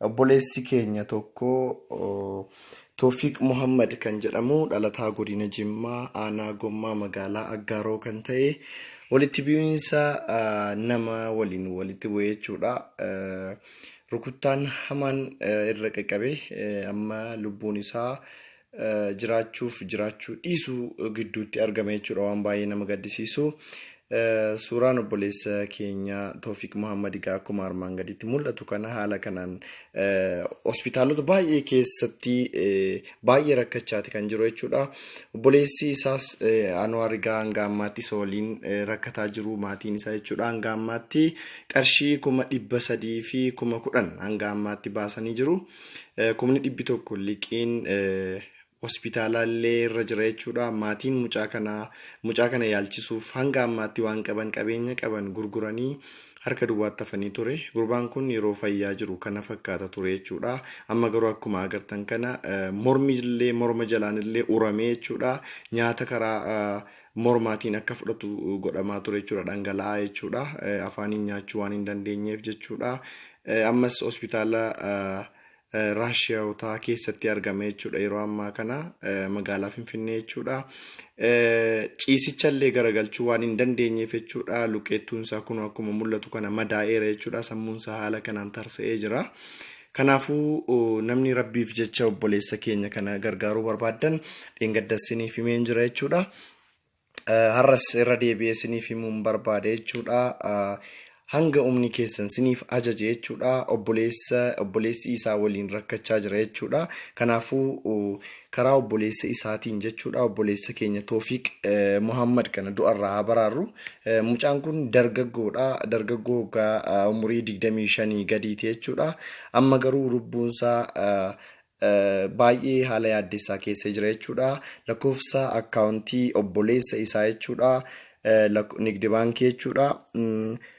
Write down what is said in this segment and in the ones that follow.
Obboleessi keenya tokko Toofiiq Muhammad kan jedhamu dhalataa godina Jimmaa aanaa Gommaa magaalaa Aggaaroo kan ta'e walitti bu'iinsa nama waliin walitti bu'ee jechuudha. Rukuttaan hamaan irra qaqqabe amma lubbuun isaa jiraachuuf jiraachuu dhiisuu gidduutti argama jechuudha waan baay'ee nama gaddisiisu. Suuraan obboleessa keenya Toofiq Muhammad egaa akkuma armaan gaditti mul'atu kana haala kanaan hospitaalota baay'ee keessatti baay'ee rakkachaati kan jiru jechuudha. Obboleessi isaas Anwaar egaa hanga ammaatti isa waliin rakkataa jiru maatiin isaa jechuudha. Hanga ammaatti qarshii kuma dhibba sadii fi kuma kudhan hanga ammaatti baasanii jiru. kumni dhibbi tokko liqiin hospitaalaa illee irra jira jechuudha. Maatiin mucaa kanaa mucaa kana yaalchisuuf hanga ammaatti waan qaban qabeenya qaban gurguranii harka duwwaatti hafanii ture. Gurbaan kun yeroo fayyaa jiru kana fakkaata ture jechuudha. Amma garuu akkuma agartan kana mormi illee morma jalaan illee uramee jechuudha. Nyaata karaa mormaatiin akka fudhatu godhamaa ture jechuudha dhangala'aa jechuudha afaaniin nyaachuu waan hin dandeenyeef jechuudha ammas hospitaala raashiyaawotaa keessatti argame jechuudha yeroo ammaa kana magaalaa finfinnee jechuudha ciisichallee garagalchuu waan hin dandeenyeef jechuudha luqqeettuun isaa kun akkuma mul'atu kana madaa'eera jechuudha sammuun isaa haala kanaan tarsa'ee jira Kanaafuu namni rabbiif jecha obboleessa keenya kana gargaaruu barbaaddan dheengadda isiniif himeen jira jechuudha. Har'as irra deebi'ee isiniif himuun barbaade jechuudha. Hanga humni keessan isiniif ajaje jechuudha. Obboleessa obboleessi isaa waliin rakkachaa jira jechuudha. Kanaafuu karaa obboleessa isaatiin jechuudha obboleessa keenya Toofiq Muhammad kana du'arraa haa baraarru. Mucaan kun dargaggoodha. Dargaggoo waggaa umurii 25 gadiiti jechuudha. Amma garuu lubbuunsaa baay'ee haala yaaddessaa keessa jira jechuudha. Lakkoofsa akkaawuntii obboleessa isaa jechuudha. Nigdi baankii jechuudha.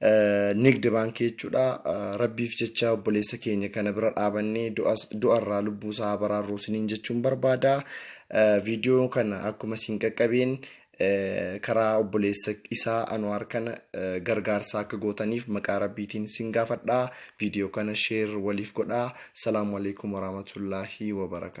Nigdi baankii jechuudha. Rabbiif jecha obboleessa keenya kana bira dhaabannee du'as- du'arraa lubbuu isaa haa baraarru isiniin jechuun barbaada. Eh, Viidiyoo kana akkuma isin qaqqabeen eh, karaa obboleessa isaa Anwaar kana eh, gargaarsa akka gootaniif maqaa rabbiitiin isin gaafadha. Viidiyoo kana sheer waliif godhaa. Salaamu alaikum warahmatullaahi wabarakaatu.